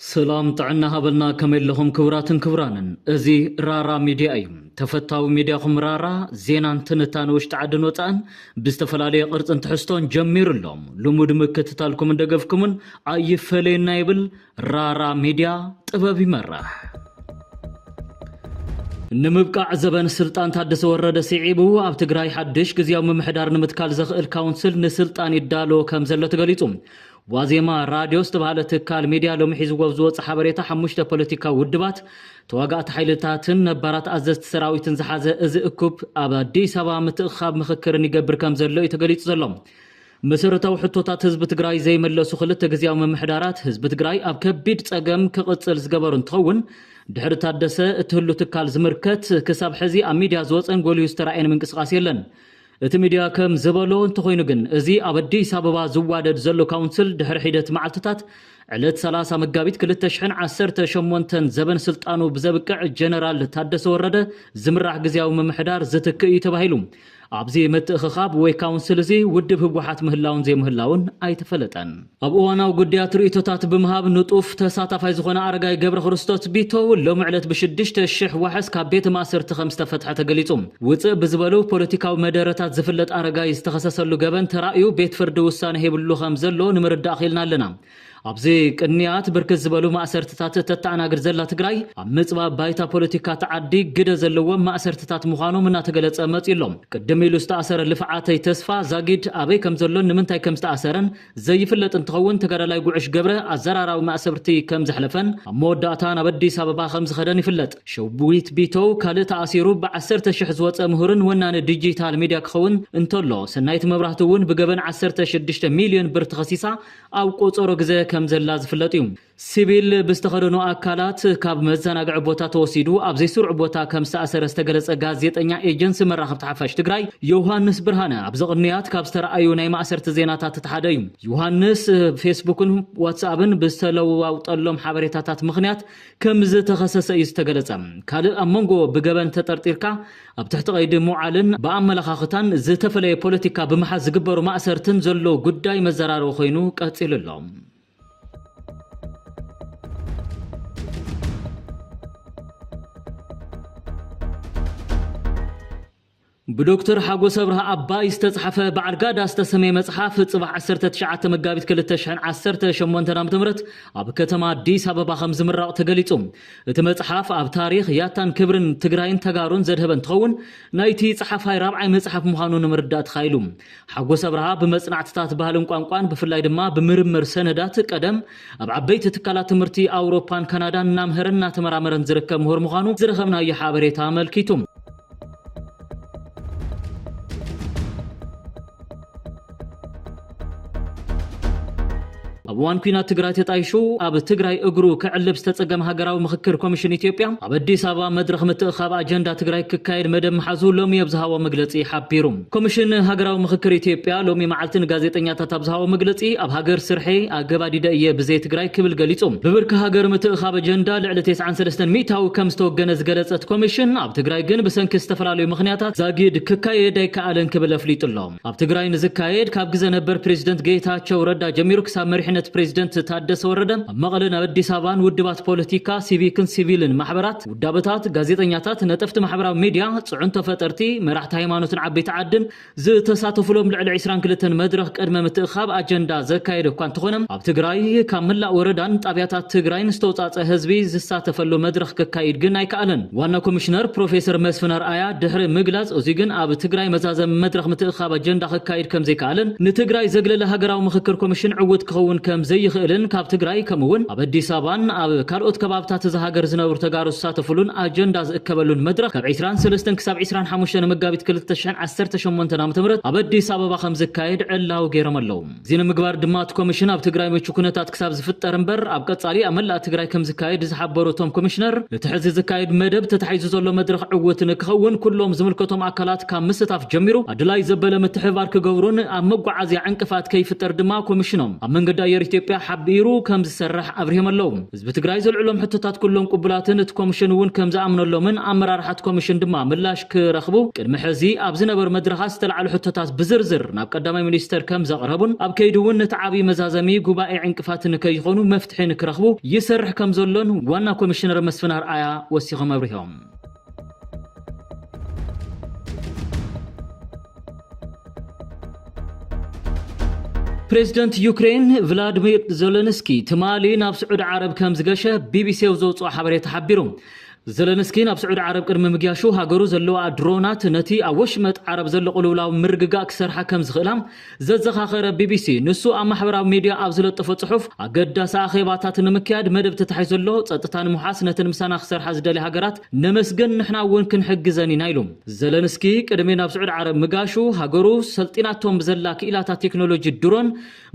ስላም ጥዕና ሃበልና ከመይ ኣለኹም ክብራትን ክብራንን እዚ ራራ ሚድያ እዩ ተፈታዊ ሚድያኹም ራራ ዜናን ትንታነ ውሽጢ ዓድን ወፃእን ብዝተፈላለየ ቅርፅን ትሕዝቶን ጀሚሩ ኣሎ ልሙድ ምክትታልኩምን ደገፍኩምን ኣይፈለየና ይብል ራራ ሚድያ ጥበብ ይመራሕ ንምብቃዕ ዘበን ስልጣን ታደሰ ወረደ ስዒቡ ኣብ ትግራይ ሓድሽ ግዜያዊ ምምሕዳር ንምትካል ዘኽእል ካውንስል ንስልጣን ይዳሎ ከም ዘሎ ተገሊጹ ዋዜማ ራድዮ ዝተባህለ ትካል ሚድያ ሎሚ ሒዝዎ ኣብ ዝወፀ ሓበሬታ ሓሙሽተ ፖለቲካዊ ውድባት፣ ተዋጋእቲ ሓይልታትን ነባራት ኣዘዝቲ ሰራዊትን ዝሓዘ እዚ እኩብ ኣብ ኣዲስ ኣበባ ምትእኽኻብ ምኽክርን ይገብር ከምዘሎ እዩ ተገሊፁ ዘሎ። መሰረታዊ ሕቶታት ህዝቢ ትግራይ ዘይመለሱ ክልተ ግዝያዊ ምምሕዳራት ህዝቢ ትግራይ ኣብ ከቢድ ፀገም ክቕፅል ዝገበሩ እንትኸውን ድሕሪ ታደሰ እትህሉ ትካል ዝምርከት ክሳብ ሕዚ ኣብ ሚድያ ዝወፀን ጎሊሁ ዝተራእየን ምንቅስቓስ የለን። እቲ ሚድያ ከም ዝበሎ እንተኾይኑ ግን እዚ ኣብ ኣዲስ ኣበባ ዝዋደድ ዘሎ ካውንስል ድሕሪ ሒደት መዓልትታት ዕለት ሰላሳ መጋቢት ክልተ ሽሕን ዓሰርተ ሸሞንተን ዘበን ስልጣኑ ብዘብቅዕ ጀነራል ታደሰ ወረደ ዝምራሕ ግዝያዊ ምምሕዳር ዝትክእ እዩ ተባሂሉ። ኣብዚ ምትእኽኻብ ወይ ካውንስል እዚ ውድብ ህወሓት ምህላውን ዘይምህላውን ኣይተፈለጠን። ኣብ እዋናዊ ጉዳያት ርእይቶታት ብምሃብ ንጡፍ ተሳታፋይ ዝኾነ ኣረጋይ ገብረክርስቶስ ቢተው ሎሚ ዕለት ብሽዱሽተ ሽሕ ዋሕስ ካብ ቤት ማእሰርቲ ከምዝተፈትሐ ተገሊፁ። ውፅእ ብዝበሉ ፖለቲካዊ መደረታት ዝፍለጥ ኣረጋይ ዝተኸሰሰሉ ገበን ተራእዩ ቤት ፍርዲ ውሳነ ሂብሉ ከምዘሎ ንምርዳእ ክኢልና ኣለና። ኣብዚ ቅንያት ብርክት ዝበሉ ማእሰርትታት እተተኣናግድ ዘላ ትግራይ ኣብ ምፅባብ ባይታ ፖለቲካ እታ ዓዲ ግደ ዘለዎም ማእሰርትታት ምዃኖም እናተገለፀ መፂኡ ኣሎ። ቅድም ኢሉ ዝተኣሰረ ልፍዓተይ ተስፋ፣ ዛጊድ፣ ኣበይ ከምዘሎን ንምንታይ ከምዝተኣሰረን ዘይፍለጥ እንትኸውን ተጋዳላይ ጉዕሽ ገብረ ኣዘራራቢ ማእሰርቲ ከም ዘሕለፈን ኣብ መወዳእታ ናብ ኣዲስ ኣበባ ከም ዝኸደን ይፍለጥ። ሸዊት ቢተው ካልእ ተኣሲሩ ብዓሰርተ ሽሕ ዝወፀ ምሁርን ወናኒ ዲጂታል ሚድያ ክኸውን እንተሎ ሰናይት መብራህቱ እውን ብገበን ዓሰርተ ሽዱሽተ ሚልዮን ብር ተኸሲሳ ኣብ ቆፀሮ ግዘ ከም ዘላ ዝፍለጥ እዩ። ሲቪል ብዝተኸደኑ ኣካላት ካብ መዘናግዒ ቦታ ተወሲዱ ኣብ ዘይስሩዕ ቦታ ከም ዝተኣሰረ ዝተገለፀ ጋዜጠኛ ኤጀንሲ መራኸብቲ ሓፋሽ ትግራይ ዮውሃንስ ብርሃነ ኣብዚ ቅንያት ካብ ዝተርኣዩ ናይ ማእሰርቲ ዜናታት እቲ ሓደ እዩ። ዮውሃንስ ብፌስቡክን ዋትስኣብን ብዝተለዋውጠሎም ሓበሬታታት ምኽንያት ከምዝተኸሰሰ እዩ ዝተገለፀ። ካልእ ኣብ መንጎ ብገበን ተጠርጢርካ ኣብ ትሕቲ ቀይዲ ምውዓልን ብኣመለኻኽታን ዝተፈለየ ፖለቲካ ብምሓዝ ዝግበሩ ማእሰርትን ዘሎ ጉዳይ መዘራረቢ ኮይኑ ቀፂሉ ኣሎ። ብዶክተር ሓጎስ ኣብርሃ ኣባይ ዝተፅሓፈ ባዕርጋዳ ዝተሰመየ መፅሓፍ ፅባሕ 19 መጋቢት 2018 ዓ ም ኣብ ከተማ ኣዲስ ኣበባ ከም ዝምረቕ ተገሊፁ እቲ መፅሓፍ ኣብ ታሪክ ያታን ክብርን ትግራይን ተጋሩን ዘድሀበ እንትኸውን ናይቲ ፀሓፋይ ራብዓይ መፅሓፍ ምዃኑ ንምርዳእ ተኻኢሉ ሓጎስ ኣብርሃ ብመጽናዕትታት ባህልን ቋንቋን ብፍላይ ድማ ብምርምር ሰነዳት ቀደም ኣብ ዓበይቲ ትካላት ትምህርቲ ኣውሮፓን ካናዳን እናምሀረን እናተመራመረን ዝርከብ ምሁር ምዃኑ ዝረኸብናዮ ሓበሬታ ኣመልኪቱ። ኣብ እዋን ኲናት ትግራይ ተጣይሹ ኣብ ትግራይ እግሩ ከዕልብ ዝተፀገመ ሃገራዊ ምኽክር ኮሚሽን ኢትዮጵያ ኣብ ኣዲስ ኣበባ መድረኽ ምትእኻብ ኣጀንዳ ትግራይ ክካየድ መደብ ምሓዙ ሎሚ ኣብ ዝሃቦ መግለፂ ሓቢሩ። ኮሚሽን ሃገራዊ ምኽክር ኢትዮጵያ ሎሚ መዓልቲ ንጋዜጠኛታት ኣብ ዝሃቦ መግለፂ ኣብ ሃገር ስርሐይ ኣገባዲደ እየ ብዘይ ትግራይ ክብል ገሊፁ። ብብርኪ ሃገር ምትእኻብ ኣጀንዳ ልዕሊ ቴስዓን ሰለስተን ሚኢታዊ ከም ዝተወገነ ዝገለፀት ኮሚሽን ኣብ ትግራይ ግን ብሰንኪ ዝተፈላለዩ ምኽንያታት ዛጊድ ክካየድ ኣይከኣለን ክብል ኣፍሊጡ ኣሎ። ኣብ ትግራይ ንዝካየድ ካብ ግዘ ነበር ፕሬዚደንት ጌታቸው ረዳ ጀሚሩ ክሳብ መሪሕነት ፕሬዚደንት ታደሰ ወረደ ኣብ መቐለን ኣብ ኣዲስ ኣበባን ውድባት ፖለቲካ፣ ሲቪክን ሲቪልን ማሕበራት፣ ውዳበታት፣ ጋዜጠኛታት፣ ነጠፍቲ ማሕበራዊ ሚዲያ፣ ፅዕንቶ ፈጠርቲ፣ መራሕቲ ሃይማኖትን ዓበይቲ ዓድን ዝተሳተፉሎም ልዕሊ ዕስራን ክልተን መድረኽ ቅድመ ምትእኽኻብ ኣጀንዳ ዘካየደ እኳ እንተኾነ ትግራይ ካብ መላእ ወረዳን ጣብያታት ትግራይን ዝተውፃፀ ህዝቢ ዝሳተፈሉ መድረኽ ክካይድ ግን ኣይከኣለን ዋና ኮሚሽነር ፕሮፌሰር መስፍን ኣርኣያ ድሕሪ ምግላፅ እዙይ ግን ኣብ ትግራይ መዛዘሚ መድረኽ ምትእኽኻብ ኣጀንዳ ክካይድ ከምዘይከኣለን ንትግራይ ዘግለለ ሃገራዊ ምኽክር ኮሚሽን ዕውት ክኸውን ከምዘይኽእልን ካብ ትግራይ ከምኡ እውን ኣብ ኣዲስ ኣበባን ኣብ ካልኦት ከባብታት እዛ ሃገር ዝነብሩ ተጋሩ ዝሳተፉሉን ኣጀንዳ ዝእከበሉን መድረኽ ካብ ዕስራን ሰለስተን ክሳብ ዕስራን ሓሙሽተን መጋቢት ክልተ ሽሕን ዓሰርተ ሸሞንተን ዓመተ ምህረት ኣብ ኣዲስ ኣበባ ከምዝካየድ ዕላዊ ገይሮም ኣለው። እዚ ንምግባር ድማ እቲ ኮሚሽን ኣብ ትግራይ ምቹ ኩነታት ክሳብ ዝፍጠር እምበር ኣብ ቀፃሊ ኣብ መላእ ትግራይ ከምዝካየድ ዝሓበሩ እቶም ኮሚሽነር እቲ ሕዚ ዝካየድ መደብ ተታሒዙ ዘሎ መድረኽ ዕውት ንክኸውን ኩሎም ዝምልከቶም ኣካላት ካብ ምስታፍ ጀሚሩ ኣድላይ ዘበለ ምትሕብባር ክገብሩን ኣብ መጓዓዝያ ዕንቅፋት ከይፍጠር ድማ ኮሚሽኖም ኣብ መንገዲ ኣየር ኢትዮጵያ ሓቢሩ ከምዝሰርሕ ኣብሪሆም ኣለው። ህዝቢ ትግራይ ዘልዕሎም ሕቶታት ኩሎም ቅቡላትን እቲ ኮምሽን እውን ከም ዝኣምነሎምን ኣመራርሓ እቲ ኮምሽን ድማ ምላሽ ክረኽቡ ቅድሚ ሕዚ ኣብ ዝነበሩ መድረኻት ዝተልዓሉ ሕቶታት ብዝርዝር ናብ ቀዳማይ ሚኒስተር ከም ዘቕረቡን ኣብ ከይዲ እውን ነቲ ዓብዪ መዛዘሚ ጉባኤ ዕንቅፋት ንከይኾኑ መፍትሒ ንክረኽቡ ይሰርሕ ከም ዘሎን ዋና ኮሚሽነር መስፍን ኣርኣያ ወሲኾም ኣብሪሆም። ፕሬዚደንት ዩክሬን ቭላድሚር ዘለንስኪ ትማሊ ናብ ስዑድ ዓረብ ከም ዝገሸ ቢቢሲው ዘውፅኦ ሓበሬታ ሓቢሩ ዘለንስኪ ናብ ስዑድ ዓረብ ቅድሚ ምግያሹ ሃገሩ ዘለዋ ድሮናት ነቲ ኣብ ወሽመጥ ዓረብ ዘሎ ቅልውላው ምርግጋእ ክሰርሓ ከም ዝኽእላ ዘዘኻኸረ ቢቢሲ፣ ንሱ ኣብ ማሕበራዊ ሚድያ ኣብ ዝለጠፎ ጽሑፍ፣ ኣገዳሲ ኣኼባታት ንምክያድ መደብ ተታሒዙ ኣሎ፣ ጸጥታ ንምውሓስ ነተን ምሳና ክሰርሓ ዝደልያ ሃገራት ነመስግን፣ ንሕና እውን ክንሕግዘን ኢና ኢሉ። ዘለንስኪ ቅድሚ ናብ ስዑድ ዓረብ ምጋሹ፣ ሃገሩ ሰልጢናቶም ብዘላ ክኢላታት ቴክኖሎጂ ድሮን፣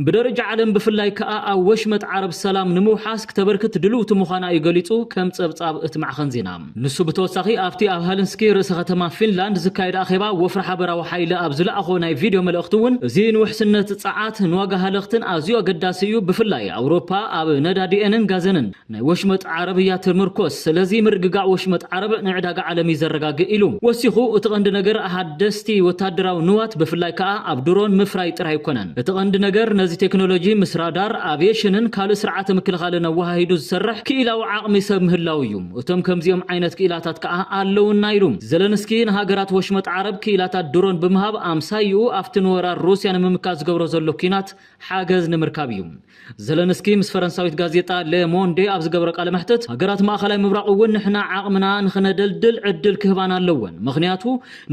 ብደረጃ ዓለም ብፍላይ ከኣ ኣብ ወሽመጥ ዓረብ ሰላም ንምውሓስ ክተበርክት ድልውቲ ምዃና እዩ ገሊጹ ከም ጸብጻብ እቲ ማዕኸን ዜና። ንሱ ብተወሳኺ ኣብቲ ኣብ ሀልንስኪ ርእሰ ከተማ ፊንላንድ ዝካየድ ኣኼባ ወፍሪ ሓበራዊ ሓይሊ ኣብ ዝለኣኾ ናይ ቪድዮ መልእኽቲ እውን እዚ ንውሕስነት ጸዓት፣ ንዋጋ ሃለኽትን ኣዝዩ ኣገዳሲ እዩ፣ ብፍላይ ኣውሮፓ ኣብ ነዳዲኤንን ጋዘንን ናይ ወሽመጥ ዓረብ እያ ትምርኮስ፣ ስለዚ ምርግጋእ ወሽመጥ ዓረብ ንዕዳጋ ዓለም እዩ ዘረጋግእ ኢሉ። ወሲኹ እቲ ቀንዲ ነገር ሓደስቲ ወተሃደራዊ ንዋት ብፍላይ ከኣ ኣብ ድሮን ምፍራይ ጥራይ ኣይኮነን፣ እቲ ቀንዲ ነገር ነዚ ቴክኖሎጂ ምስ ራዳር፣ ኣቭየሽንን ካልእ ስርዓተ ምክልኻልን ኣወሃሂዱ ዝሰርሕ ክኢላዊ ዓቕሚ ሰብ ምህላው እዩ። እቶም ከምዚኦም ዓይነት ክኢላታት ከኣ ኣለዉና ኢሉ። ዘለንስኪ ንሃገራት ወሽመጥ ዓረብ ክኢላታት ድሮን ብምሃብ ኣምሳይኡ ኣብቲ ንወራር ሩስያ ንምምካት ዝገብሮ ዘሎ ኲናት ሓገዝ ንምርካብ እዩ። ዘለንስኪ ምስ ፈረንሳዊት ጋዜጣ ለ ሞንዴ ኣብ ዝገበሮ ቃለ መሕትት ሃገራት ማእከላይ ምብራቕ እውን ንሕና ዓቕምና ንኽነደልድል ዕድል ክህባና ኣለወን ምኽንያቱ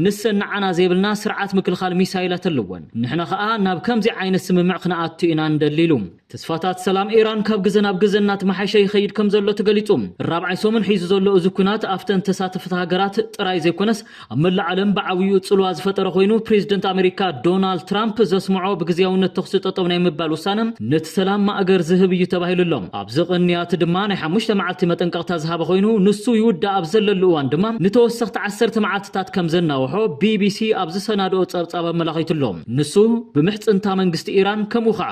ንሰን ንዓና ዘይብልና ስርዓት ምክልኻል ሚሳይላት ኣለወን ንሕና ከኣ ናብ ከምዚ ዓይነት ስምምዕ ክንኣቱ ኢና ንደሊ ኢሉ። ተስፋታት ሰላም ኢራን ካብ ግዘ ናብ ግዘ እናተመሓየሸ ይኸይድ ከምዘሎ ተገሊፁ። ራብዓይ ሰሙን ሒዙ ዘሎ እዚ ኲናት ኣፍተን ተሳተፍቲ ሃገራት ጥራይ ዘይኮነስ ኣብ መላእ ዓለም ብዓብይኡ ፅልዋ ዝፈጠረ ኮይኑ ፕሬዚደንት ኣሜሪካ ዶናልድ ትራምፕ ዘስምዖ ብግዝያውነት ተኹሲ ጠጠው ናይ ምባል ውሳነ ነቲ ሰላም ማእገር ዝህብ እዩ ተባሂሉ ኣሎ። ኣብዚ ቅንያት ድማ ናይ ሓሙሽተ መዓልቲ መጠንቀቕታ ዝሃበ ኮይኑ ንሱ ይውዳእ ኣብ ዘለሉ እዋን ድማ ንተወሰኽቲ ዓሰርተ መዓልቲታት ከምዘናውሖ ቢቢሲ ኣብ ዝሰናድኦ ፀብፃብ ኣመላኺቱ ኣሎ። ንሱ ብምሕፅንታ መንግስቲ ኢራን ከምኡ ከዓ